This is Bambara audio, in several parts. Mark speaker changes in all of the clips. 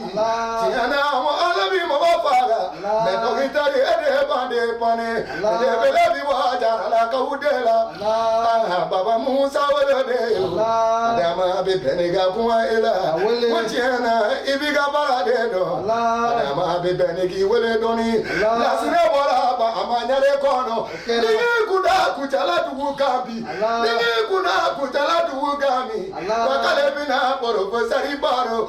Speaker 1: tiɲɛna mɔgɔ ala bi mɔgɔ faga mɛ dɔkitɛri e de bande pɔnne belebele bi bɔ jaralakaw de la baba musa woloden adama bɛ bɛn n'i ka kuma e la ko tiɲɛna i b'i ka baara de dɔn adama bɛ bɛn n'i k'i wele dɔɔni lasire bɔra ba a ma ɲɛre kɔnɔ n'i y'i kunda kucala dugu kan bi n'i y'i kunda kucala dugu kan bi wa k'ale bɛna baro ko sari baro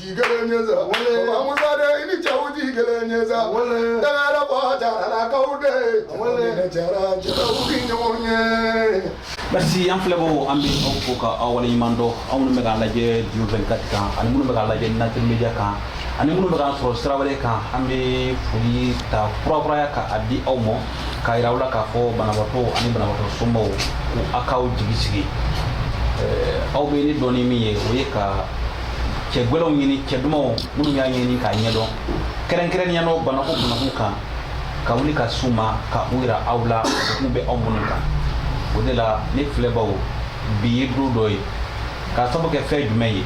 Speaker 1: tɛ kelen ye sa baba musa denin cɛw tɛ kelen ye sa dangada bɔ jaralakaw
Speaker 2: de ne jara cɛw tɛ ɲɔgɔn ye merci an filɛbagaw an bɛ aw fo ka aw waleɲuman dɔn aw minnu bɛ k'a lajɛ diyo 24 kan ani minnu bɛ k'a lajɛ nature media kan ani minnu bɛ k'an sɔrɔ sira wɛrɛ kan an bɛ foli ta propreya ka a di aw ma k'a yira aw la k'a fɔ banabaatɔ ani banabaatɔ somɔgɔw ko a k'aw jigi sigi aw bɛ ne dɔn ni min ye o ye ka cɛ gwɛlɛnw ɲini cɛ dumanw minnu y'a ɲɛɲini k'a ɲɛdɔn kɛrɛnkɛrɛnnenya nɔ banako banakun kan ka wuli ka s'u ma ka u yira aw la degun bɛ aw minnu kan o de la ne filɛbaw bi ye don dɔ ye k'a sabu kɛ fɛn jumɛn ye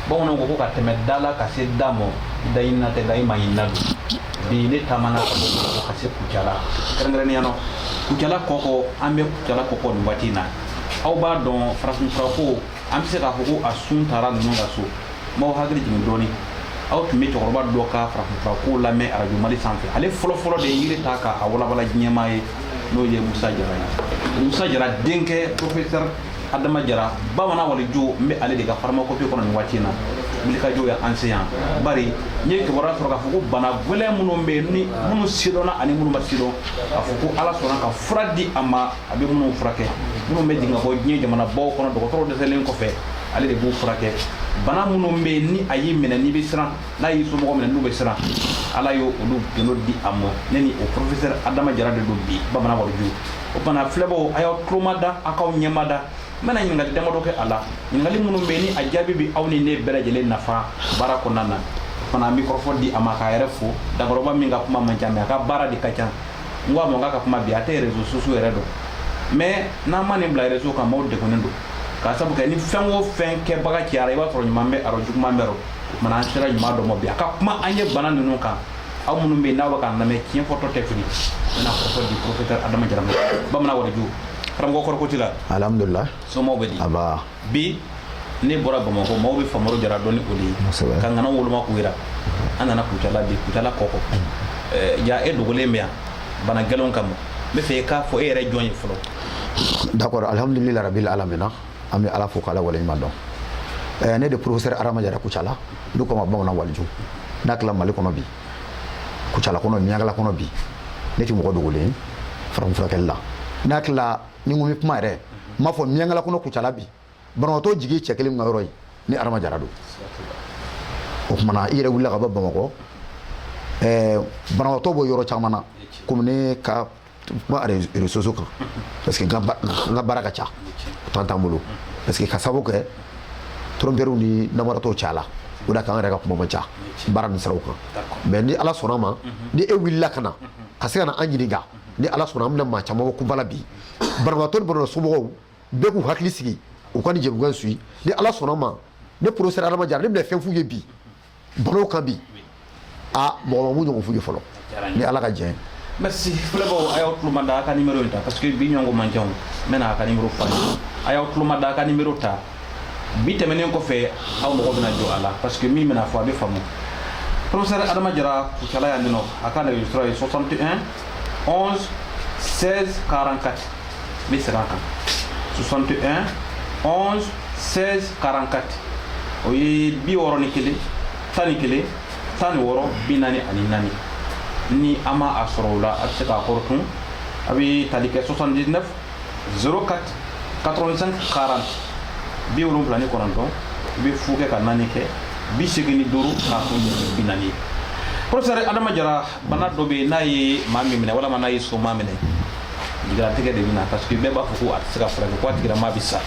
Speaker 2: bamananw ko ko ka tɛmɛ da la ka se da mɔ daɲinina tɛ da ɲuman ɲinina don bi ne taamana ka bɔ ka se kucala kɛrɛnkɛrɛnnenya nɔ kucala kɔkɔ an bɛ kucala kɔkɔ nin waati in na aw b'a dɔn farafinfurako an bɛ se k'a fɔ ko a sun taara ninnu ka so n b'aw hakili jigin dɔɔnin aw tun bɛ cɛkɔrɔba dɔ ka farafinfura ko lamɛn arajo mali sanfɛ ale fɔlɔfɔlɔ de ye yiri ta k'a walawala diɲɛmaa ye n'o ye musa jara ye musa jara denkɛ professeur adama jara bamanan waliju n bɛ ale de ka pharmacopée kɔnɔ nin waati in na wulikajɔw ye an se yan bari n ye kibaruya sɔrɔ k'a fɔ ko bana gɛlɛn minnu bɛ yen ni minnu sidɔnna ani minnu ma sidɔn k'a fɔ ko ala sɔnna ka fura di a ma a bɛ minnu furakɛ minnu bɛ jigin ka bɔ diɲɛ jamanabaw kɔnɔ dɔgɔtɔrɔ dɛsɛlen kɔfɛ ale de b'u furakɛ bana minnu bɛ yen ni a y'i minɛ n'i bɛ siran n'a y'i somɔgɔ minɛ n'u bɛ siran ala y'olu gundo di a ma ne ni o professeur adama jara de don bi bamanan waliju o bana filɛbaw a y'aw tulo mada a k'aw ɲɛ mada n bɛna ɲininkali damadɔ kɛ a la ɲininkali minnu bɛ yen ni a jaabi bɛ aw ni ne bɛɛ lajɛlen nafa baara kɔnɔna na fana an bɛ kɔrɔfɔ di a ma k'a yɛrɛ fo dakɔrɔba min ka kuma man ca mɛ a ka baara de ka ca n ko a ma a kan ka kuma bi a tɛ réseaux sociaux yɛrɛ dɔn mɛ n'an ma nin bila réseaux kan maaw degunnen don k'a sabu kɛ ni fɛn o fɛn kɛbaga cayara i b'a sɔrɔ ɲuman bɛ a rɔ juguman b'a rɔ mana an sera ɲuman dɔ ma bi a ka kuma an ye bana ninnu kan aw minnu bɛ n'aw bɛ k'an lamɛn tiɲɛ fɔtɔ tɛ fili bɛna kɔrɔfɔ di professeur adama jara bamanan waliju karamɔgɔ kori ko t'i la alihamdulila somaw
Speaker 3: bɛ di
Speaker 2: bi ne bɔra bamakɔ maaw bɛ famaro jara dɔn ni o de ka ŋana woloma k'u jira an nana kucala bi kucala kɔkɔ mm. ja e dogolen bɛ yan bana gɛlɛn kama n b'a fɛ e k'a fɔ e yɛrɛ jɔn ye fɔlɔ d'accord
Speaker 3: alhamdulillah rabbil alamin an bɛ ala fo k'ala waleɲuman dɔn eh, ne de professeur adama jara kucala n'u ko ma bamanan waliju n hakili la mali kɔnɔ bi kucala kɔnɔ miyankala kɔnɔ bi ne tɛ mɔgɔ dogolen farafinfurakɛli la n hakili la ni ko bɛ kuma yɛrɛ n b'a fɔ miyankala kɔnɔ kucala bi banabagatɔ jigi cɛ kelen ka yɔrɔ ye ni adama jara don o tuma na i yɛrɛ wulila ka bɔ bamakɔ ɛɛ banabagatɔ bɔ yɔrɔ caman na komi ne ka kuma réseaux sociaux kan parce que n ka baara ka ca temps t'an bolo parce que ka sababu kɛ trompeurs ni namaratɔw cayala o da kan an yɛrɛ ka kuma man ca baara nin siraw kan mais ni ala sɔnna ma ni e wulila ka na ka se ka na an ɲininka ni ala sɔnna an bɛna maa caman bɔ kunpa la bi banabagatɔ ni banabagatɔ somɔgɔw bɛɛ k'u hakili sigi u ka nin jɛmukan suivi ni ala sɔnna ma ne professeur adama jara ne bɛna fɛn f'u ye bi banaw kan bi a mɔgɔ ma min ɲɔgɔn f'u ye fɔlɔ ni ala ka jɛn merci
Speaker 2: filɛbaaw a y'aw tuloma da a ka nimero in ta parce que bi ɲɔgɔn man ca an bɛna a ka nimero fɔ a y'aw tuloma da a ka nimero ta bi tɛmɛnen kɔfɛ aw mago bɛna jɔ a la parce que min bɛna fɔ a b'a faamu professeur adama jara kucala yan ninɔ a ka nɛgɛjurusira ye 61 11 16 44 n bɛ segin a kan 61 11 16 44 o ye bi wɔɔrɔ ni kelen tan ni kelen tan ni wɔɔrɔ bi naani ani naani ni aw ma a sɔrɔ o la a bɛ se k'a kɔrɔtun a bɛ tali kɛ 79 04 85 40 bi wolonwula ni kɔnɔntɔn i bɛ fu kɛ ka naani kɛ bi segin ni duuru k'a kun bi naani ye professeur adama jara bana dɔ bɛ yen n'a ye maa min minɛ walama n'a ye somaa minɛ jigilatigɛ de bɛ na parce que bɛɛ b'a fɔ ko a tɛ se ka furakɛ ko a tigilamaa bɛ sa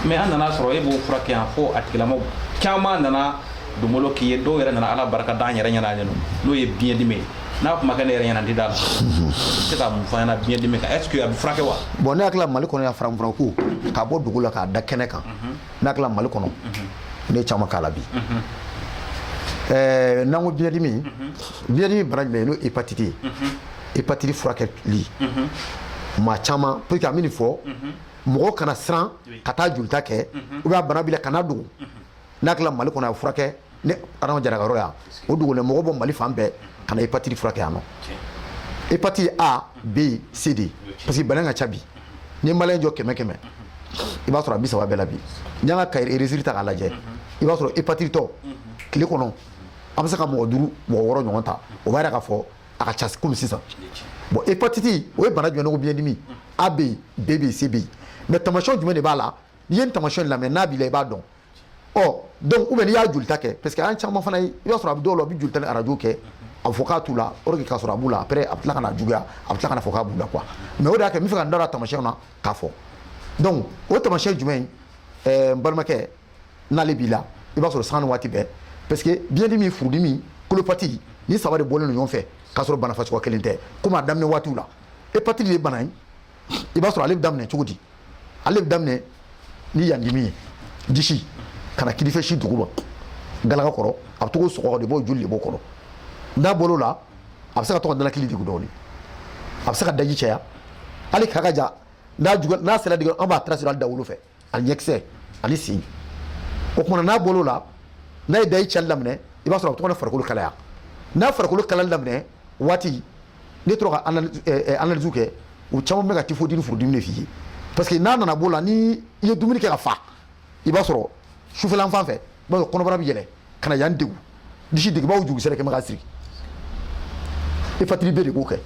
Speaker 2: mais an nana sɔrɔ e b'o furakɛ yan fo a tigilamaa caman nana donbolo k'i ye dɔw yɛrɛ nana ala barika da an yɛrɛ ɲɛna n'o ye biɲɛdimi ye n'a kuma kɛ ne yɛrɛ ɲɛna n tɛ d'a la se ka mun f'an ye biɲɛ dimi kan est ce que a bɛ furakɛ wa bon ne hakili la mali
Speaker 3: kɔnɔ yan farafinfura ko ka bɔ dugu la k'a da kɛnɛ kan mhm. ne hakili la mali kɔnɔ mhm. ne caman k'a la bi mhm. eh, n'an ko biɲɛ dimi biɲɛ dimi bana jumɛn ye n'o hépatite ye hépatite furakɛli maa caman pour que an bɛ nin fɔ mɔgɔw kana siran ka taa jolita kɛ ou bien a bana b'i la kan'a dogo n hakili la mali kɔnɔ a furakɛli adama jara ka yɔrɔ yan o dogolen mɔgɔ bɔ mali fan bɛɛ ka na hépatite furakɛ yan nɔ hépatite a b c d parce que bana ka ca bi ni maliyɛn jɔ kɛmɛ kɛmɛ i b'a sɔrɔ a bi saba bɛɛ la bi n'i y'an ka cahier registre ta k'a lajɛ i b'a sɔrɔ hépatite tɔ tile kɔnɔ an bɛ se ka mɔgɔ duuru mɔgɔ wɔɔrɔ ɲɔgɔn ta o b'a yira k'a fɔ a ka ca komi sisan bon hépatite o ye bana jumɛn n'u ko biɲɛdimi a bɛ yen b bɛ yen c bɛ yen mais tamasiyɛn jumɛn de b'a la n'i ye nin tamasiyɛn lamɛn n'a b'i la i b'a dɔn ɔ donc ou bien n'i y'a jolita kɛ parce que an caman fana ye i b'a sɔrɔ a bɛ dɔw la u bɛ jolita ni arajo kɛ a bɛ fɔ k'a t'u la or que k'a sɔrɔ a b'u la après a bɛ tila ka na juguya a bɛ tila ka na fɔ k'a b'u la quoi mais o de y'a kɛ n bɛ fɛ ka n da don a tamasiyɛnw na k'a fɔ donc o tamasiyɛn jumɛn ɛɛ n balimakɛ n'ale b'i la i b'a sɔrɔ sanga ni waati bɛɛ parce que biyɛndimi furudimi kolopati nin saba de bɔlen don ɲɔgɔn fɛ k'a sɔrɔ bana fasuguya kelen tɛ komi a daminɛ waatiw la hepatite de ye bana ye i b'a sɔrɔ ale bɛ daminɛ cogo di ale bɛ daminɛ ni yan dimi ye disi ka na kinin fɛ sin duguma galaka kɔrɔ a bɛ to k'o sɔgɔ de b'o joli de b'o kɔrɔ n'a bɔl'o la a bɛ se ka to ka nalakili degun dɔɔni a bɛ se ka daji caya hali k'a kan ja n'a sera degere an b'a tracé hali dawolo fɛ ani ɲɛkisɛ ani sen o kumana n'a bɔl'o la n'a ye daji cali daminɛ i b'a sɔrɔ a bɛ to ka na farikolo kalaya n'a farikolo kalali daminɛ waati n'i tora ka analyse eh, eh, kɛ u caman bɛ ka typhoïde ni furudimi de f'i ye parce que n'a nana b'o la ni i ye dumuni kɛ ka fa i b'a sɔrɔ sufɛlan fan fɛ i b'a sɔrɔ kɔnɔbara bɛ yɛlɛ ka na yan degun disi degun i b'a fɔ jurukisɛ kɛ mɛ k'a siri hepatite b de b'o kɛ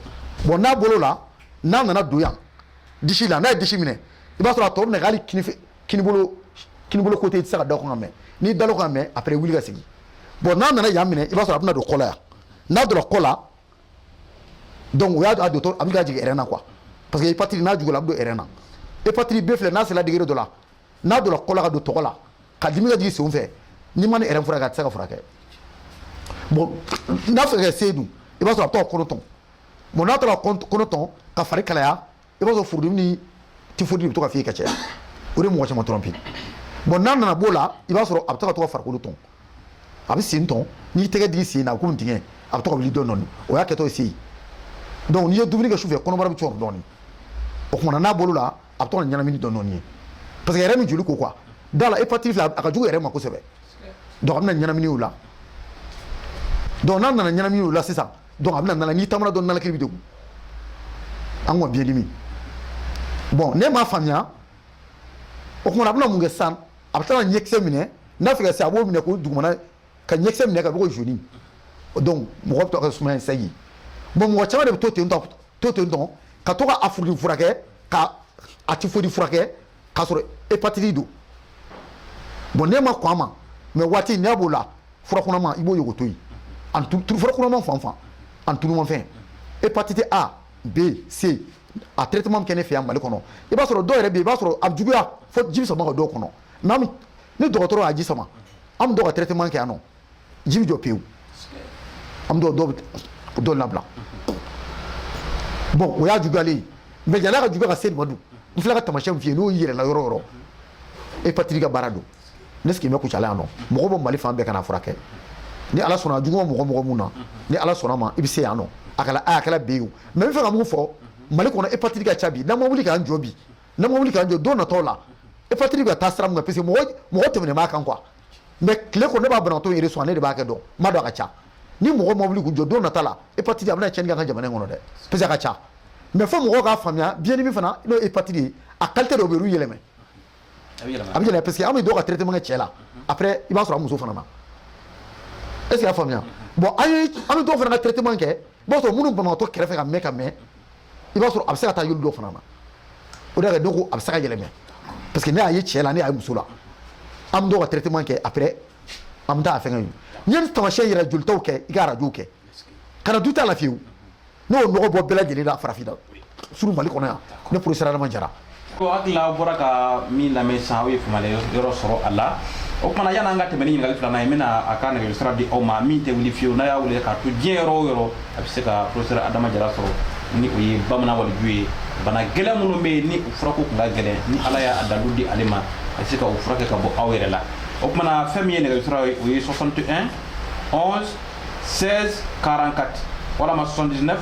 Speaker 3: bon n'a bɔl'o la n'a nana don yan disi la n'a ye disi minɛ i b'a sɔrɔ a tɔ bɛ na hali kinibolo kinibolo kote i tɛ se ka da o kan ka mɛɛn n'i dal'o kan mɛn après wuli ka sigi bon n'a nana yan minɛ i b'a sɔrɔ a bɛna don kɔ la yan n'a donna kɔ la donc o y'a a dontɔ a bɛ ka jigin ɛrɛn na quoi parce que hepatite n'a jugula a bɛ don ɛrɛn na hepatite b filɛ n'a sera degere dɔ la n'a donna kɔ la ka don togo la ka dimi ka jigin senw fɛ n'i ma ni ɛrɛn furakɛ a tɛ se ka furakɛ bon n'a fɛ ka se dun i b'a sɔrɔ a bɛ taa kɔnɔ tɔn bon n'a taara kɔnɔ tɔn ka fari kalaya i b'a sɔrɔ furudimi ni tifodi bɛ to ka f'i ye ka caya o de mɔgɔ caman tromper bon n'a nana b'o la i b'a sɔrɔ a bɛ to ka to ka farikolo tɔn a bɛ sen tɔn n'i tɛgɛ digi sen na a bɛ komi dingɛ a bɛ to ka wuli dɔɔni dɔɔni o y'a kɛtɔ ye sen donc n'i ye dumuni kɛ sufɛ kɔnɔbara bɛ cɔrɔ dɔɔni o kumana n'a bɔl'o la a bɛ to ka ɲɛnamini dɔɔni dɔɔni ye parce que yɛrɛ min joli ko quoi da la hepatite filɛ a ka jugu yɛrɛ ma kosɛbɛ donc a bɛna ɲɛnamini o la donc n'a nana ɲɛnamini o la sisan donc a bɛna nana n'i taamana dɔrɔn nalakili bɛ degun an kɔni biyɛn dimi bon n'e m'a faamuya o kumana a bɛna mun kɛ sisan a bɛ taa ɲɛkisɛ minɛ n'a fɛ ka se a b'o minɛ k'o dugumana ka ɲɛkisɛ minɛ ka bɛ ko jaune donc mɔgɔ bɛ to ka sumaya in sɛgi bon mɔgɔ caman de bɛ to ten tɔ to ten tɔ ka to ka a furudi furakɛ ka a tifodi furakɛ k'a sɔrɔ hepatiti don bon n'e ma kɔn a ma mais waati n'a b'o la furakunama i b'o ɲɔgɔn to yen furakunama fan fan ani tulumafɛn hepatiti a b c a traitement bɛ kɛ ne fɛ yan mali kɔnɔ i b'a sɔrɔ dɔw yɛrɛ bɛ i b'a sɔrɔ a juguya fo ji bɛ sama ka dɔw kɔnɔ mais ni dɔgɔtɔrɔ y'a ji sama an bɛ dɔw ka traitement kɛ yan nɔ ji bɛ jɔ pewu an bɛ dɔw dɔw labila bon o y'a juguyalen ye mais yan'a ka juguya ka se nin ma dun n filɛ ka tamasiyɛn f'i ye n'o yera i la yɔrɔ o yɔrɔ hépatite ka baara don ne sigi bɛ kucala yan nɔ mɔgɔ bɔ mali fan bɛɛ ka na furakɛ ni ala sɔnna jugu ma mɔgɔ mɔgɔ min na ni ala sɔnna ma i bɛ se yan nɔ a kɛra a kɛra B ye o mais n fɛ ka mun fɔ mali kɔnɔ hépatite ka ca bi n'an ma wuli k'an jɔ bi n'an ma wuli k'an jɔ don natɔ la hépatite ka taa sira min na parce que mɔgɔ tɛmɛnen b'a kan quoi mais tile kɔnɔ ne b'a banabaatɔ yɛrɛ sɔrɔ ne de b'a hakɛ dɔn n b'a dɔn a ka ca ni mɔgɔ ma wuli k'u jɔ don nata la hépatite a bɛna cɛnni kɛ an ka jamana in kɔnɔ dɛ parce que a ka ca mais fo mɔgɔw k'a faamuya biɲɛdimi fana n'o ye hépatite ye a qualité dɔw bɛ olu yɛlɛmɛ a bɛ yɛlɛma yɛlɛma parce que an bɛ dɔw ka traitement kɛ cɛ la après i b'a sɔrɔ a muso fana na est ce que y'a faamuya bon an ye an bɛ dɔw fana ka traitement kɛ i b'a sɔrɔ minnu banabaatɔ kɛrɛfɛ ka mɛn ka mɛn i b'a sɔrɔ a bɛ se ka taa yɔrɔ dɔ fana na o de y'a kɛ dɔ ko a bɛ se ka yɛlɛmɛ parce que ne y'a ye cɛ la ne y'a ye muso la an bɛ dɔw ka traitement kɛ après an bɛ taa a fɛngɛ n'i ye tamasiyɛn yɛrɛ jolitaw kɛ i ka arajow kɛ ka na doute t'a la fiyewu ne y'o nɔgɔ bɔ bɛɛ lajɛlen na farafinna surtout mali kɔnɔ yan ne professeur adama jara ko hakili la aw
Speaker 2: bɔra ka min lamɛn sisan aw ye faamuyali yɔrɔ sɔrɔ a la o kumana yan'an ka tɛmɛ ni ɲininkali filanan ye n bɛna a ka nɛgɛjuru sira di aw ma min tɛ wuli fiyewu n'a y'a wele k'a to diɲɛ yɔrɔ o yɔrɔ a bɛ se ka professeur adama jara sɔrɔ ni o ye bamanan waliju ye bana gɛlɛn minnu bɛ yen ni u furako tun ka gɛlɛn ni ala y'a dalu di ale ma a bɛ se ka u furakɛ ka bɔ aw yɛrɛ la o kumana fɛn min ye nɛgɛjuru sira ye o ye 61 11 16 44 walama 79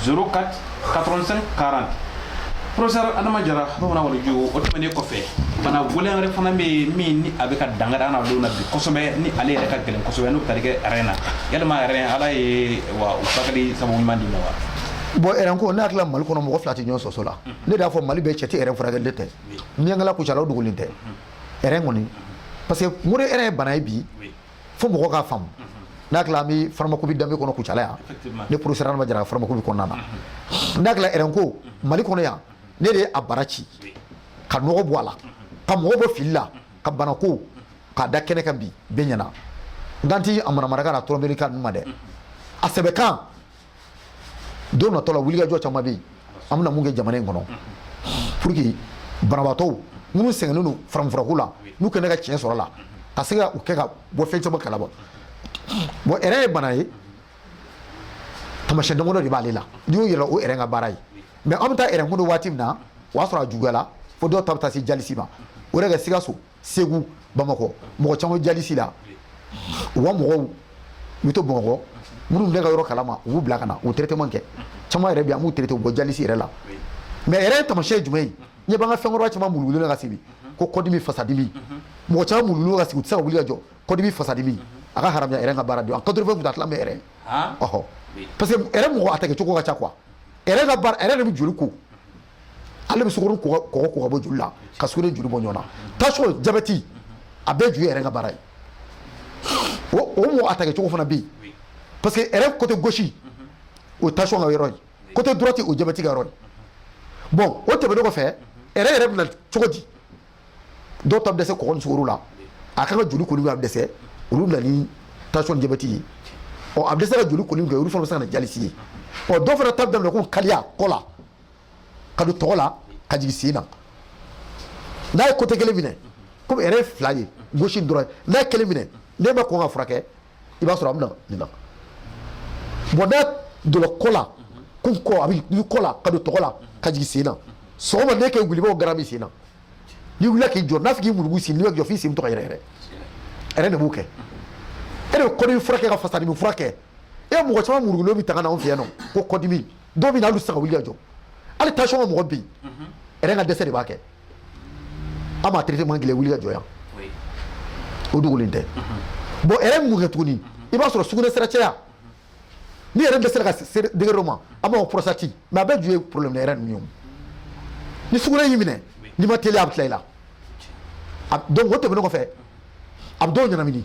Speaker 2: 04 85 40 professeur adama jara bamanan waliju o tɛmɛnen kɔfɛ bana gɛlɛn wɛrɛ fana bɛ yen min ni a bɛ ka dankari an na don na bi kosɛbɛ ni ale yɛrɛ ka gɛlɛn kosɛbɛ n'o bɛ tali kɛ rein na yalima rein ala ye o furakɛli sababu ɲuman di i ma wa bon rein
Speaker 3: ko ne hakili la mali kɔnɔ mɔgɔ fila tɛ ɲɔgɔn sɔsɔ la ne de y'a fɔ mali bɛɛ cɛ tɛ rein furakɛli tɛ miyankala kucala o dogolen tɛ rein kɔni parce que mun rein ye bana ye bi fo mɔgɔ k'a faamu n hakili la an bɛ pharmacopée danbe kɔnɔ kucala yan ne professeur Adama Jara pharmacopée kɔnɔna na n hakili la rein ko Mali kɔnɔ yan ne de ye a bara ci ka nɔgɔ bɔ a la ka mɔgɔ bɔ fili la ka banako k'a da kɛnɛ kan bi bɛɛ ɲɛna n kan tɛ a manamanakan n'a tromperie kan ninnu ma dɛ a sɛbɛkan don natɔ la wulikajɔ caman bɛ yen an bɛna mun kɛ jamana in kɔnɔ pour que banabaatɔw minnu sɛgɛnnen don farafinfurako la n'u kɛnɛ ka tiɲɛ sɔrɔ a la ka se ka u kɛ ka bɔ fɛn caman kalama bon rein ye bana ye tamasiyɛn damadɔ de b'ale la n'i y'o ye i la o rein ka baara ye mais an bɛ taa rein ko dɔn waati min na o y'a sɔrɔ a juguyala fo dɔw ta bɛ taa se dialyse ma o yɛrɛ kɛ sikaso segu bamakɔ mɔgɔ caman bɛ dialyse la u ka mɔgɔw u bɛ to bamakɔ minnu bɛ ka yɔrɔ kalama u b'u bila ka na u traitement kɛ caman yɛrɛ bɛ yen an b'u traité u bɔ dialyse yɛrɛ la mais rein ye taamasiyɛn ye jumɛn ye ɲɛ b'an ka fɛnkɔrɔba caman mulugulen ka sigi ko kɔdimi fasadimi mɔgɔ caman mulugulen ka sigi u tɛ se ka wuli ka jɔ kɔdimi fasadimi a ka haramuya rein ka baara don a 80 pour cent a tila bɛ rein ɔhɔ parce que rein mɔgɔ attaquer cogo ka ca quoi rein ka baara rein de bɛ joli ko ale bɛ sukoro ni kɔgɔ ko ka bɔ joli la ka sukoro joli bɔ ɲɔgɔn na tension jabɛti a bɛɛ ju ye rein ka baara ye o mɔgɔ attaquer cogo fana bɛ yen parce que rein côté gauche o tension ka yɔrɔ ye côté droite o jabɛti ka yɔrɔ ye bon o tɛmɛnen kɔfɛ rein yɛrɛ bɛ na cogo di dɔw ta bɛ dɛsɛ kɔgɔ ni sukoro la a kan ka joli koli a bɛ dɛsɛ olu bɛ na ni tension ni jabɛti ye ɔ a bɛ dɛsɛ ka joli koli kɛ olu fana bɛ se ka na dialyse ye ɔ dɔw fana ta bɛ daminɛ ko kaliya kɔ la ka don tɔgɔ la ka jigin sen na n'a ye côté kelen minɛ komi rein ye fila ye gauche droite n'a ye kelen minɛ n'e ma kɔn ka furakɛ i b'a sɔrɔ a bɛ na nin na bon n'a donna kɔ la ko kɔ a bɛ kɔ la ka don tɔgɔ la ka jigin sen na sɔgɔma n'e kɛ wuli i b'a fɔ garan b'i sen na n'i wulila k'i jɔ n'a fɔ k'i murugu sen n'i bɛ jɔ f'i sen bɛ to ka yɛrɛyɛrɛ rein de b'o kɛ e de bɛ kɔdimi furakɛ ka fasadimi furakɛ e mɔgɔ caman murugulen bɛ to ka na anw fɛ yan nɔ ko kɔdimi dɔw bɛ na hali u tɛ se ka wuli ka jɔ hali tension ka mɔgɔ bɛ yen rein ka dɛsɛ de b'a kɛ an b'a traitement kɛ wuli ka jɔ yan o dogolen tɛ bon rein mun kɛ tuguni i b'a sɔrɔ sugunɛ sira caya ni rein dɛsɛra ka se degré dɔ ma an b'a fɔ prostate mais a bɛɛ ju ye problème de rein ninnu ye ni sugunɛ y'i minɛ n'i ma teliya a bɛ tila i la donc o tɛmɛnen kɔfɛ a bɛ dɔw ɲɛnamini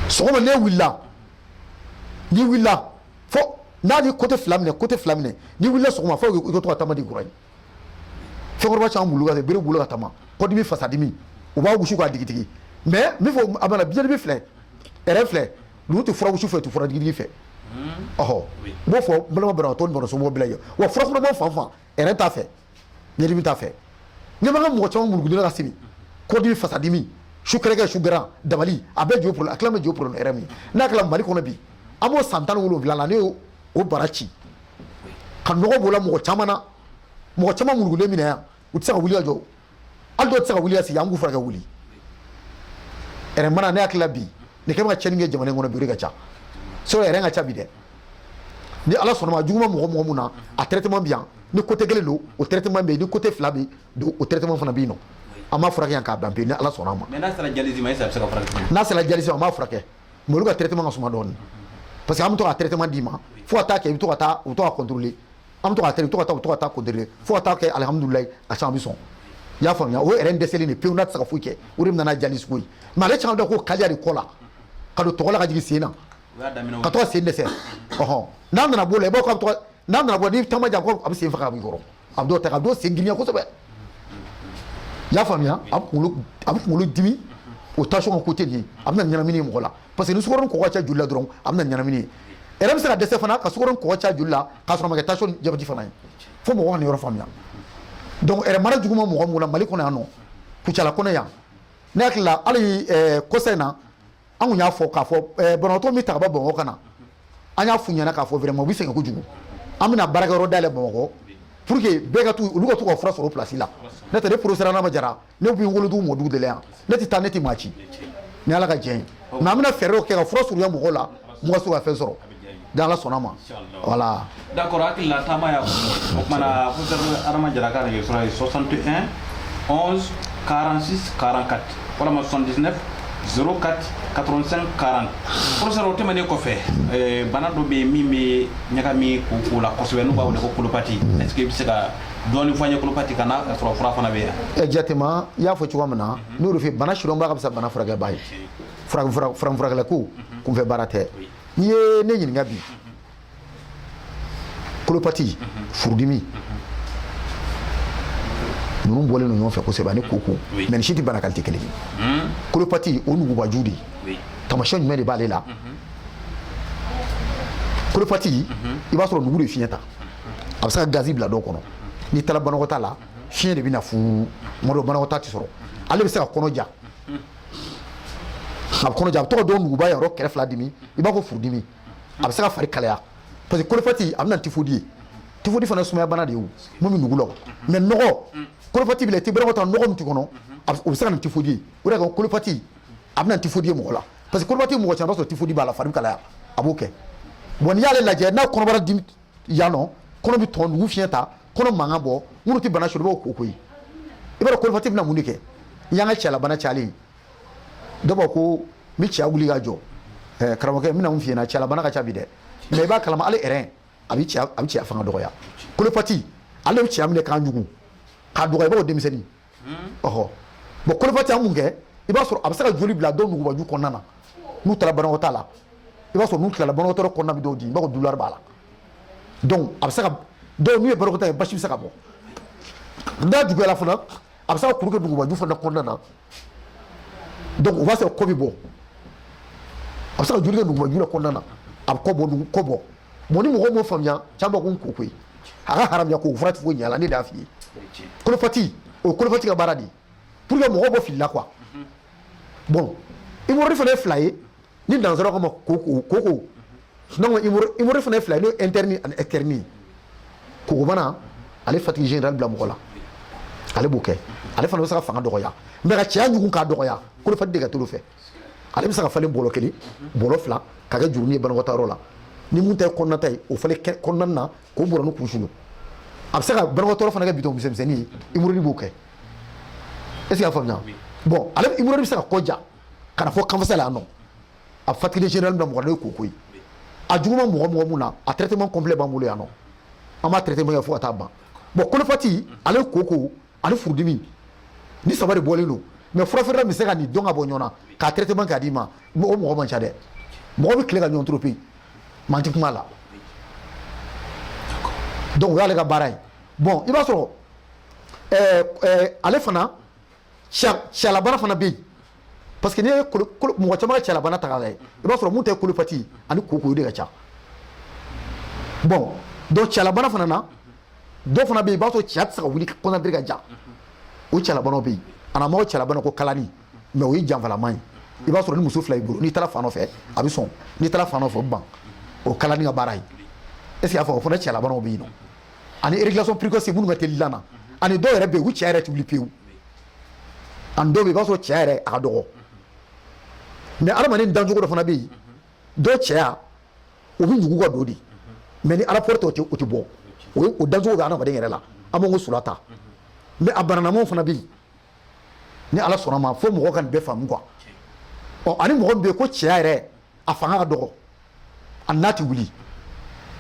Speaker 3: sɔgɔma n'e wulila n'i wulila fo n'a bɛ côté fila minɛ côté fila minɛ n'i wulila sɔgɔma fo i ka to ka taama degi kura ye fɛnkɔrɔba caman mulugura bere b'u bolo ka taama kɔdimi fasadimi u b'a wusu k'a digidigi mais n bɛ fɔ a bana biɲɛdimi filɛ rein filɛ ninnu tɛ fura wusu fɛ u tɛ fura digidigi fɛ ɔhɔ n b'o fɔ n balima banabagatɔ ni banasomaw bɛɛ lajɛlen wa fura kunaman fan fan rein t'a fɛ biɲɛdimi t'a fɛ ɲɛ b'an ka mɔgɔ caman murukulen ka sigi kɔdimi fasadimi su kɛrɛkɛ su gɛrɛn dabali a bɛɛ ju problème a tila bɛɛ ju problème rein min n'a kɛra mali kɔnɔ bi an b'o san tan ni wolonwula la ne y'o o bara ci ka nɔgɔ b'o la mɔgɔ caman na mɔgɔ caman murukulen bɛ na yan u tɛ se ka wuli ka jɔ hali dɔw tɛ se ka wuli ka sigi an k'u furakɛ wuli rein bana ne hakili la bi nin kɛ bɛ ka cɛnni kɛ jamana in kɔnɔ bi o de ka ca sɔrɔ rein ka ca bi dɛ ni ala sɔnna ma juguman mɔgɔ mɔgɔ mun na a traitement bi yan ni côté kelen don o traitement bɛ yen ni côté fila bɛɛ don o traitement fana bɛ yen nɔ an b'a furakɛ yan k'a ban pewu ni ala sɔnna a ma mais n'a sera dialyse ma est-ce que
Speaker 2: a bɛ se ka furakɛ n'a sera dialyse ma an b'a furakɛ
Speaker 3: mais olu ka traitement ka suma dɔɔnin parce que an bɛ to ka traitement d'i ma fo ka taa kɛ i bɛ to ka taa u bɛ to ka contrôler an bɛ to ka tɛmɛ to ka taa to ka taa contrôler fo ka taa kɛ alihamudulayi a caman bɛ sɔn i y'a faamuya o yɛrɛ dɛsɛlen de pewu n'a tɛ se ka foyi kɛ o de nana dialyse ko ye mais ale caman dɔ ko kaliya de kɔ la ka don tɔgɔ la ka jigin sen na ka to ka sen dɛsɛ ɔhɔn n'a nana b'o la i b'o ka tɔgɔ n'a nana bɔ n'i taama jan ko a bɛ sen faga a b'i kɔrɔ a bɛ dɔw ta ka dɔw sen girinya kosɛbɛ i y'a faamuya a bɛ kunkolo a bɛ kunkolo dimi o tension côté nin a bɛna ɲɛnamini mɔgɔ la parce que ni sukaro ni kɔgɔ caya joli la dɔrɔn a bɛna ɲɛnamini ye ɛrɛn bɛ se ka dɛsɛ fana ka sukaro ni kɔgɔ caya joli la k'a sɔrɔ a ma kɛ tension ni jabɛti fana ye fo mɔgɔ ka nin yɔrɔ faamuya donc ɛrɛn mara jugu ma mɔgɔ mun na mali kɔnɔ yan nɔ kucala kɔnɔ yan ne hakili la hali eh, kɔsa in na an kun y'a fɔ k'a fɔ eh, banabagatɔ min ta ka bɔ bamakɔ ka na an y'a f'u ɲɛna k'a fɔ vraiment u bɛ sɛgɛn kojugu an bɛna baarakɛyɔrɔ dayɛlɛ bamakɔ pour que bɛɛ ka to olu ka to ka fura sɔrɔ o place la n'o tɛ ne professeur Adama Jara ne bɛ n wolodugu mɔdugu de la yan ne tɛ taa ne tɛ maa ci ni ala ka diɲɛ ye mais an bɛna fɛɛrɛw kɛ ka fura surunya mɔgɔw la mɔgɔ se ka fɛn sɔrɔ ni ala sɔnna ma voilà d'accord hakilila
Speaker 2: taama y'a fɔ o kumana professeur adama jara ka nɛgɛjuru sira ye 61 11 46 44 walama 79 04 85 40 professeur o tɛmɛnen kɔfɛ eh, bana dɔ bɛ yen min bɛ ɲagami koko la kosɛbɛ n'u b'a wele ko kolopati est ce que i bɛ se ka dɔɔni fɔ an ye kolopati kan n'a sɔrɔ fura fana bɛ yan exactement i y'a fɔ cogoya min na ne y'o de f'i ye bana sidɔnbaa ka fisa bana furakɛbaa ye farafinfurakɛliko kunfɛ baara tɛ n'i ye ne ɲininka bi kolopati furudimi ninnu bɔlen don ɲɔgɔn fɛ kosɛbɛ ani koko mais nin si tɛ bana qualité kelen ye kolopati o nugubaju de ye taamasiyɛn jumɛn de b'ale la kolopati i b'a sɔrɔ nugu de fiɲɛ ta a bɛ se ka gazi bila dɔ kɔnɔ n'i taara banakɔtaa la fiɲɛ de bɛ na fuu tuma dɔ banakɔtaa tɛ sɔrɔ ale bɛ se ka kɔnɔ ja a bɛ kɔnɔ ja a bɛ to ka dɔw nuguba yɔrɔ kɛrɛ fila dimi i b'a fɔ furudimi a bɛ se ka fari kalaya parce que kolopati a bɛ na tifodi ye tifodi fana sumaya bana de ye min bɛ nugu la mais nɔgɔ kolopati b'i la i tɛ banakɔtaa nɔgɔ min tɛ kɔnɔ o bɛ se ka na tifodi ye o de la kolopati a bɛ na tifodi ye mɔgɔ la parce que kolopati mɔgɔ caman b'a sɔrɔ tifodi b'a la fari kalaya a b'o kɛ bon n'i y'ale lajɛ n'a kɔnɔbara dimi yan nɔ kɔnɔ bɛ tɔn nugu fiɲɛ ta kɔnɔ mankan bɔ minnu tɛ bana sɔrɔ i b'o ko koyi i b'a dɔn kolopati bɛna mun de kɛ n y'an ka cɛlabana cayalen ye dɔ b'a ko n bɛ cɛya wuli ka jɔ ɛɛ karamɔgɔkɛ n bɛna mun f'i ɲɛna cɛlabana ka ca bi dɛ mais i b'a kalama ale yɛrɛ a bɛ cɛya a bɛ cɛya fanga dɔgɔya kolopati ale bɛ cɛya minɛ k'a ɲugu k'a dɔgɔya i b'a fɔ denmisɛnnin ɔhɔ bon kolopati an mun kɛ i b'a sɔrɔ a bɛ se ka joli bila dɔw nugubaju kɔnɔna na n'u taara banakɔtaa la i b'a sɔrɔ n'u tilala banakɔtaayɔrɔ kɔnɔna bɛ dɔw dimi i b'a fɔ douleur b'a la donc a bɛ se ka dɔw n'u ye banakɔtaa ye basi bɛ se ka bɔ n'a juguyala fana a bɛ se ka kuru kɛ nugubaju fana kɔnɔna na donc o b'a sɔrɔ kɔ bɛ bɔ a bɛ se ka joli kɛ nugubaju la kɔnɔna na a bɛ kɔ bɔ kɔ bɔ bon ni mɔgɔw m'o faamuya caman b'a ko n ko koyi a ka haramuya ko fura tɛ foyi ɲɛ a la ne d'a f'i ye kolopati o ye kolopati ka baara de ye pour que mɔgɔw bɔ fili la quoi bon hémorroïde fana ye fila ye ni nansaraw k'a ma koko koko sinon hémorroïde fana ye fila ye n'o ye interne ani externe kokobana ale fatigue générale bila mɔgɔ la ale b'o kɛ ale fana bɛ se ka fanga dɔgɔya mais ka cɛya ɲugun k'a dɔgɔya kolopati de ka t'olu fɛ ale bɛ se ka falen bolo kelen bolo fila ka kɛ jurunin ye banakɔtaayɔrɔ la ni mun ta ye kɔnɔnata ye o falen kɔnɔna na k'o bɔrɔ ni kunsulu a bɛ se ka banakɔtaayɔrɔ fana kɛ bitɔn misɛnmisɛnnin ye hémorroïde b'o kɛ est ce que y'a faamuya bon ale hémorroïde bɛ se ka kɔ ja ka na fɔ kanfasa la yan nɔ a fatigue générale bila mɔgɔ la o ye koko ye a juguman mɔgɔ mɔgɔ mun na a traitement complet b'an bolo yan nɔ an b'a traitement kɛ fo ka taa ban bon kolopati ale koko ani furudimi ni saba de bɔlen don
Speaker 3: mais furafeerela min bɛ se ka nin dɔn ka bɔ ɲɔgɔn na k'a traitement k'a d'i ma o mɔgɔ man ca dɛ mɔgɔ bɛ tile ka ɲɔgɔn tromper mais an tɛ kuma la donc o y'ale ka baara ye bon i b'a sɔrɔ ɛɛ ɛɛ ale fana cɛlabana fana bɛ yen parce que n'i ye mɔgɔ caman ka cɛlabana ta k'a lajɛ i b'a sɔrɔ mun tɛ kolopati ani koko de ka ca bon donc cɛlabana fana na dɔ fana bɛ yen i b'a sɔrɔ cɛya tɛ se ka wuli kɔnɔdiri ka ja o cɛlabanaw bɛ yen a na mɔgɔ cɛlabana ko kalani mais o ye janfalama ye i b'a sɔrɔ ni muso fila y'i bolo n'i taara fan dɔ fɛ a bɛ sɔn n'i taara fan dɔ fɛ o bɛ ban o kalani ka baara ye est ce que y'a fɔ o fana cɛlabanaw bɛ yen nɔ ani éjaculation précoce minnu ka teli dilan na ani dɔw yɛrɛ bɛ yen u cɛ yɛrɛ tɛ wuli pewu ani dɔw bɛ yen i b'a sɔrɔ cɛ yɛrɛ a ka dɔgɔ mais adamaden dancogo dɔ fana bɛ yen dɔ cɛya o bɛ ɲugu ka don de mais ni ala pɔrɔtɔ tɛ o tɛ bɔ o ye o dancogo bɛ adamaden yɛrɛ la an b'o sula ta mais a bananamaw fana bɛ yen ni ala sɔnna ma fo mɔgɔ ka nin bɛɛ faamu quoi ɔ ani mɔgɔ min bɛ yen ko cɛya yɛrɛ a fanga ka dɔgɔ a n'a tɛ wuli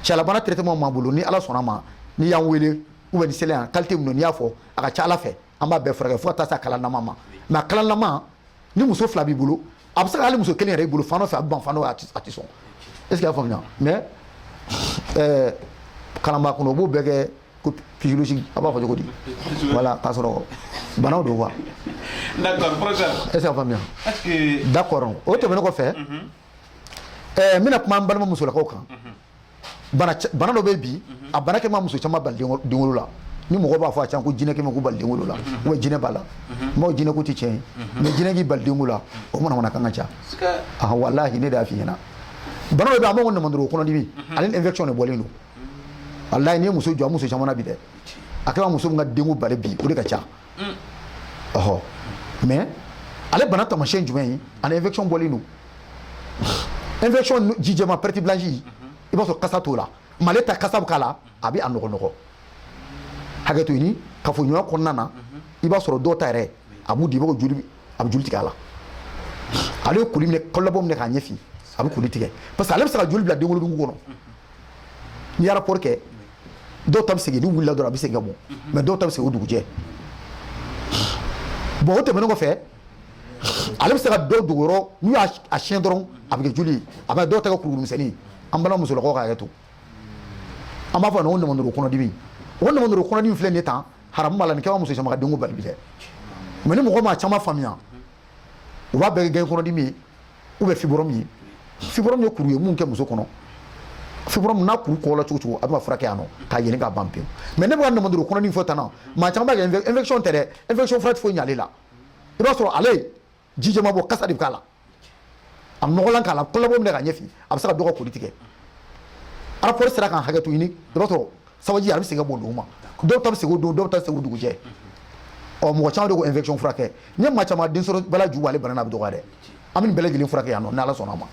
Speaker 3: cɛlabana traitement b'an bolo ni ala sɔnna ma n'i y'an wele ou bien ni seliya qualité min don n'i y'a fɔ a ka ca ala fɛ an b'a bɛɛ furakɛ fo ka taa se a kalanlama ma mais a kalanlama ni muso fila b'i bolo a bɛ se ka hali muso kelen yɛrɛ i bolo fan dɔ fɛ a bɛ ban fan dɔ a tɛ sɔn est ce que y'a faamuya mais ɛɛ kalanbaa kɔnɔ o b'o bɛɛ kɛ ko physiologique a b'a fɔ cogo di voilà k'a sɔrɔ banaw don quoi
Speaker 2: d'accord professeur est ce que y'a faamuya d'accord o tɛmɛnen
Speaker 3: kɔfɛ ɛɛ n bɛna kuma an balima musolakaw kan bana dɔ bɛ bi a bana kɛ ma muso caman bali denwolo la ni mɔgɔ b'a fɔ a can ko jinɛ kɛ ma ko bali denwolo la wa jinɛ b'a la maaw jinɛ ko tɛ tiɲɛ ye mais jinɛ k'i bali denwolo la o manamanakan ka ca walahi ne de y'a f'i ɲɛna bana dɔ bɛ yen an b'o namandoro kɔnɔdimi ale ni infection de bɔlen don walayi n'i ye muso jɔ muso caman bi dɛ a kɛra muso min ka denko bali bi o de ka ca mm. ɔhɔ mais ale bana tamasiyɛn jumɛn ye ani infection bɔlen don infection ji jɛma perte blanche mhm. i b'a sɔrɔ kasa t'o la mais ale ta kasa bɛ k'a la a bɛ a nɔgɔnɔgɔ hakɛ to ɲini kafoɲɔgɔnya kɔnɔna na mhm. i b'a sɔrɔ dɔw ta yɛrɛ a b'u di i b'a fɔ joli a bɛ joli tigɛ a la ale ye koli minɛ kɔlɔbɔ minɛ k'a ɲɛfin a bɛ koli tigɛ parce que ale bɛ se ka joli bila denwolonugu kɔnɔ n'i ye rapport kɛ dɔw ta bɛ segin n'u wulila dɔrɔn a bɛ segin ka bɔ mais dɔw ta bɛ segin o dugujɛ bon o tɛmɛnen kɔfɛ ale bɛ se ka dɔw dogo yɔrɔ n'u y'a siyɛn dɔrɔn a bɛ kɛ joli ye a bɛ dɔw ta kɛ kuru misɛnnin an balima musolakaw ka hakɛ to an b'a fɔ nin ko namandoro kɔnɔdimi o namandoro kɔnɔdimi filɛ nin ye tan haramu b'a la nin kɛra muso caman ka denko bali bi dɛ mais ni mɔgɔ m'a caman faamuya u b'a bɛɛ kɛ gɛn kɔnɔdimi ye ou bien fibrome ye fibrome ye kuru ye mun kɛ muso kɔnɔ fibrome n'a kuru kɔla cogo cogo a bɛ furakɛ yan nɔ k'a yɛlɛ k'a ban pewu mais ne bɛ ka namandoro kɔnɔdimi fɔ tan na maa caman b'a kɛ infection tɛ dɛ infection fura tɛ foyi ɲ'ale la i b'a sɔrɔ ale ji jɛma bɔ kasa de bɛ k'a la a nɔgɔlan k'a la kɔlɔbɔ minɛ k'a ɲɛfin a bɛ se ka dɔ ka koli tigɛ rapport sera k'an hakɛ to ɲini i b'a sɔrɔ sabaji a bɛ segin ka bɔ dugu ma dɔw ta bɛ segin o don dɔw ta bɛ segin o dugujɛ ɔ mɔgɔ caman de ko infection furakɛ n ye maa caman den sɔrɔ baliya ju ale bana na bɛ dɔgɔya dɛ an bɛ nin bɛɛ lajɛlen furakɛ yan nɔ n'ala sɔnna a ma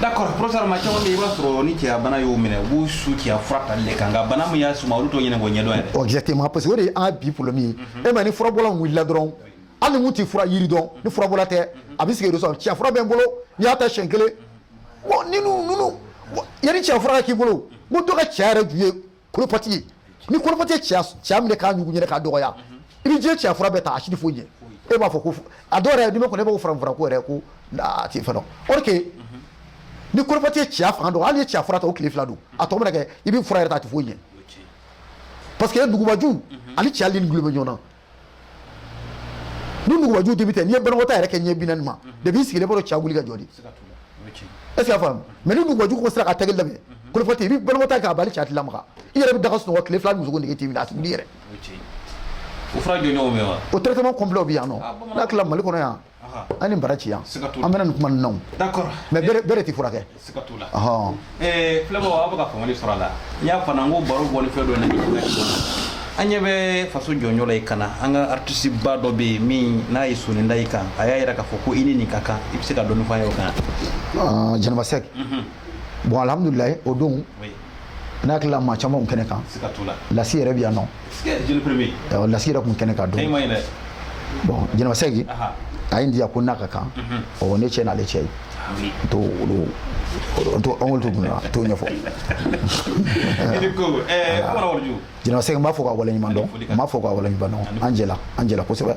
Speaker 2: d'accord professeur maa caman bɛ yen i b'a sɔrɔ ni cɛya bana y'o minɛ u b'u su cɛya fura tali de kan nka bana min y'a suma olu t'o ɲini k'o ɲɛdɔn yɛrɛ ɔ exactement parce que o de ye an ka bi problème ye e ma ni furabɔla wulila dɔrɔn hali ni mun tɛ fura yiri dɔn ni furabɔla tɛ a bɛ sigi de sɔrɔ cɛya fura bɛ n bolo n'i y'a ta siɲɛ kelen yanni cɛya fura k'i bolo ko dɔ ka cɛya yɛrɛ ju ye colopathie ye ni colopathie ye cɛya minɛ k'a ɲugu yɛrɛ k'a dɔgɔya i bɛ diɲɛ cɛya fura bɛɛ ta a si tɛ foyi ɲɛ e b'a fɔ ko a dɔw yɛrɛ kɔnɔ e b'a fɔ farafin ko yɛrɛ ko a tɛ fɛn dɔn ni colopathie ye cɛya fanga dun hali n'i ye cɛya fura ta o tile fila don a tɔ mana kɛ i bɛ fura yɛrɛ ta a tɛ foyi ɲɛ parce que nugubaju ani cɛya ni bɛ ɲɔgɔn na ni nugubaju débuté n'i ye banakɔtaa yɛrɛ kɛ ɲɛ bi naani ma depuis i sigilen b'a sɔrɔ cɛya wuli ka jɔ de est ce que i y'a faamu mais ni nugubaju ko sera ka taga laban colopathie i bɛ banakɔtaa k'a ban hali cɛya tɛ lamaga i yɛrɛ bɛ da ka sunɔgɔ tile fila muso ko nege t'i minɛ a tɛ wuli yɛrɛ o fura jɔnjɔnw bɛ wa o traitement complet bɛ yan
Speaker 3: nɔ n'a tila mali kɔnɔ yan aw ni baraji yan an bɛna nin kuma ninnu na mais bɛɛ
Speaker 2: de tɛ furakɛ filɛbaw aw bɛ ka faamuyali sɔrɔ a la n y'a fana n ko baro bɔli fɛn dɔ na an ɲɛ bɛ faso jɔnjɔn la i kan na an ka artiste ba dɔ bɛ yen min n'a ye soni da i kan a y'a yira k'a fɔ ko i ni nin ka kan i bɛ se ka dɔɔni fɔ an ye o kan jɛnɛba sɛki
Speaker 3: bon alhamdulilayi o don n'a hakili la maa caman tun kɛnɛ kan lasi
Speaker 2: yɛrɛ bɛ
Speaker 3: yan
Speaker 2: nɔ lasi yɛrɛ tun kɛnɛ kan
Speaker 3: don bɔn Jɛnɛba Sɛki a ye n diya ko n'a ka kan mhm. ɔ ne cɛ n'ale cɛ ye n t'o olu n t'o an k'olu to kunna n t'o ɲɛfɔ Jɛnɛba Sɛki n b'a fo k'a waleɲuman dɔn n b'a fo k'a waleɲuman dɔn an jɛla an jɛla kosɛbɛ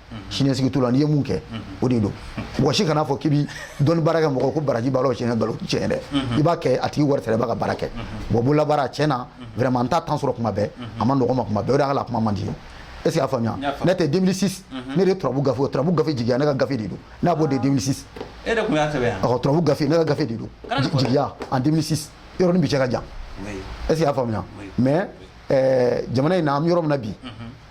Speaker 3: siniɲɛsigi t'u la n'i ye mun kɛ o de don mɔgɔ si kana fɔ k'i bi dɔnni baara kɛ mɔgɔ ko baraji b'a la o tiɲɛ nkalon tiɲɛ dɛ i b'a kɛ a tigi wari sara i b'a ka baara kɛ bɔn bololabaara tiɲɛ na vraiment n t'a temps sɔrɔ kuma bɛɛ a ma nɔgɔ ma kuma bɛɛ o de y'a la kuma man di n ye est ce que y'a faamuya ne tɛ 2006 ne de ye turabu gafe turabu gafe jigiya ne ka gafe de don n'a b'o de 2006 e de tun
Speaker 2: y'a sɛbɛn yan turabu gafe ne ka gafe
Speaker 3: de don jigiya en 2006 yɔrɔ ni bi cɛ ka jan est ce que y'a faamuya mais jamana in na an bɛ yɔrɔ min na bi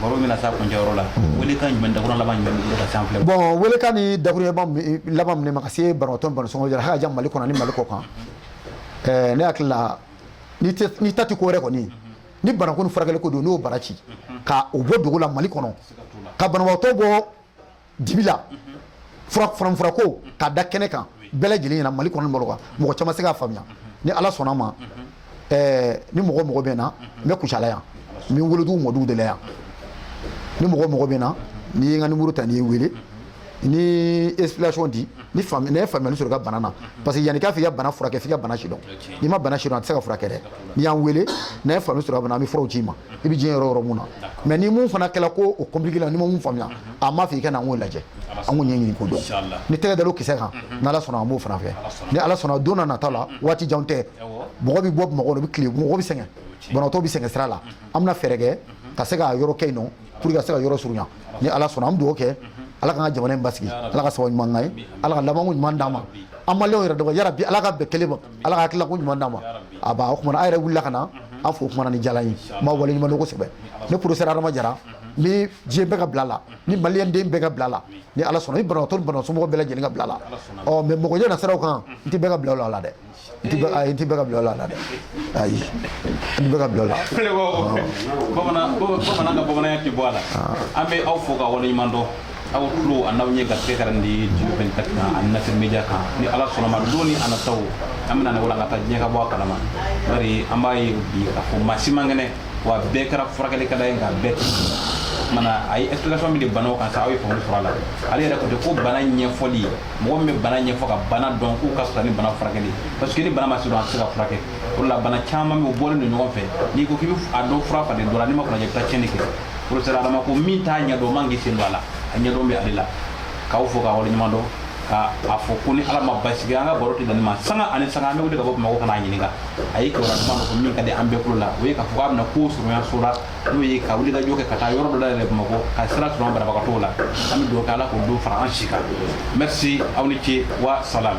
Speaker 2: baro bɛna s'a kuncɛyɔrɔ la welekan jumɛn dakuru
Speaker 3: laban jumɛn b'i bolo ka se an filɛ bɔn welekan ni dakuru laban minɛ ma ka se banabagatɔ ni banabagatɔ somɔgɔ jara hakaja mali kɔnɔ ni mali kɔkan ɛɛ ne hakili la n'i tati ko wɛrɛ kɔni ni banako ni furakɛli ko don n'o bara ci ka o bɔ dugu la mali kɔnɔ ka banabagatɔ bɔ dibi la farafinfura ko k'a da kɛnɛ kan bɛɛ lajɛlen ɲɛna mali kɔnɔ pour que mɔgɔ caman se k'a faamuya ni ala sɔnna ma ni mɔgɔ mɔgɔ bɛ na n bɛ kucala yan n bɛ wolodugu mɔdugu de la yan ni mɔgɔ mɔgɔ bɛ na n'i ye n ka numéro ta n'i ye n wele ni explication di ni faamuyali ne ye faamuyali sɔrɔ i ka bana na parce que yanni k'a f'i ka bana furakɛ f'i ka bana sidɔn n'i ma bana sidɔn a tɛ se ka furakɛ dɛ n'i y'an wele n'an ye faamuyali sɔrɔ a bana an bɛ furaw ci i ma i bɛ diɲɛ yɔrɔ yɔrɔ mun na mais ni mun fana kɛla ko o compliqué la n m'a faamuya an b'a fɔ i ka na an k'o lajɛ an k'o ɲɛɲini k'o dɔn ni tɛgɛ da o kisɛ kan ni ala sɔnna an b'o fana fɛ ni ala sɔnna don nataw la waati jan tɛ mɔgɔ bɛ bɔ bamakɔ o bɛ tile mɔgɔ bɛ sɛgɛn banabagatɔ bɛ sɛgɛn sira la an bɛna fɛɛrɛ kɛ ka se ka yɔrɔ kɛ yen pour que ka se ka yɔrɔ surunya ni ala sɔnna an bɛ dugawu kɛ ala k'an ka jamana in basigi ala ka sababu ɲuman k'an ye ala ka labanko ɲuman d'an ma an maliyɛnw yɛrɛ dɔgɔ ya rabi ala k'an bɛn kelen ma Ala ka hakilila ko ɲuman d'an ma ya rabi a baa o kuma na an yɛrɛ wulila ka na unhun an fo kumana ni diyala n ye n b'aw waleɲumandɔn kosɛbɛ ne professeur Adama Jara unhun n bi diɲɛ bɛɛ ka bila la ni malien den bɛɛ ka bila la ni Ala sɔnna ni banabaatɔ ni banabaatɔ somɔgɔw bɛɛ lajɛlen ka bila la ɔ mais mɔgɔ ɲɛ na siraw kan n tɛ bɛɛ ka bila o la a la dɛ n tɛ bɛɛ ayi n tɛ bɛɛ ka bila o la a la dɛ ayi n tɛ bɛɛ ka bila o la filɛbagaw
Speaker 2: bamanan bamanan ka bamananya tɛ bɔ a la an bɛ aw fo k'aw waleɲumandɔn aw tulo an'aw ɲɛ garisɛgɛ kɛra ni diɲɛ 24 kan ani Nasir media kan ni ala sɔnnama don ni a nataw an bɛna ne wala an ka taa diɲɛ ka bɔ a kalama bari an b'a ye bi k'a fɔ maa si man kɛnɛ wa bɛɛ kɛra furakɛlikɛla ye nka bɛɛ tɛ mana a ye explication min di banaw kan sa aw ye faamu sɔrɔ a la ale yɛrɛ ko ten ko bana ɲɛfɔli mɔgɔ min bɛ bana ɲɛfɔ ka bana dɔn k'o ka fisa ni bana furakɛli parce que ni bana ma se dɔn a tɛ se ka furakɛ o de la bana caman bɛ yen u bɔlen don ɲɔgɔn fɛ n'i ko k'i bɛ a dɔ fura falen dɔ la n'i ma kunna i bɛ taa tiɲɛni kɛ professeur adama ko min t'a ɲɛdɔn man k'i sen don a la a ɲɛdɔn bɛ ale la k'aw fo k'a waleɲuman dɔn ka a fɔ ko ni ala ma basigi an ka baro tɛ dan nin ma sanga ani sanga an bɛ wuli ka bɔ bamakɔ ka n'a ɲininka a ye kibaruya duman dɔ fɔ min ka di an bɛɛ kulo la o ye k'a fɔ k'a bɛna ko surunya so la n'o ye ka wuli ka jɔ kɛ ka taa yɔrɔ dɔ dayɛlɛ bamakɔ ka sira surunya banabagatɔw la an bɛ dugawu kɛ ala k'o don fara an si kan merci aw ni ce wa salam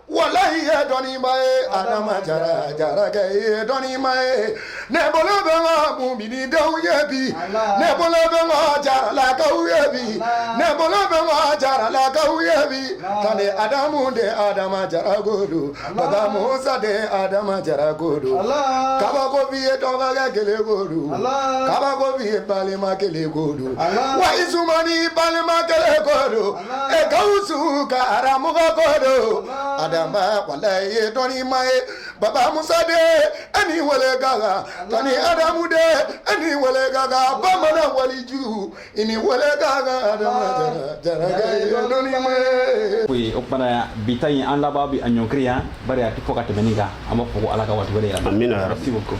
Speaker 1: Walayi i ye dɔnni maa ye adama jara jarakɛ i ye dɔnni maa ye ne bolo bɛ n kɔ muminidenw ye bi ne bolo bɛ n kɔ jaralakaw ye bi ne bolo bɛ n kɔ jaralakaw ye bi kani adamu de adama jara ko don baba musa de adama jara ko don kabakobi ye dɔgɔkɛ kelen ko don kabakobi ye balima kelen ko don wa isumani balima kelen ko don Gawusu karamɔgɔ ko don, Adama walayi i ye dɔnni maa ye, Baba Musa de e ni weele ka kan, Tani Adamu de e ni weele ka kan, bamanan waliju i ni weele ka kan, Adama Jarakɛ i ye dɔnni maa ye. Oui, o tuma
Speaker 2: na bi ta in an laban bɛ a ɲɔngiri yan, bari a tɛ fɔ ka tɛmɛn nin kan, an b'a fɔ ko Ala ka waati wɛrɛ jira an na. Amina yarabi. Merci beaucoup.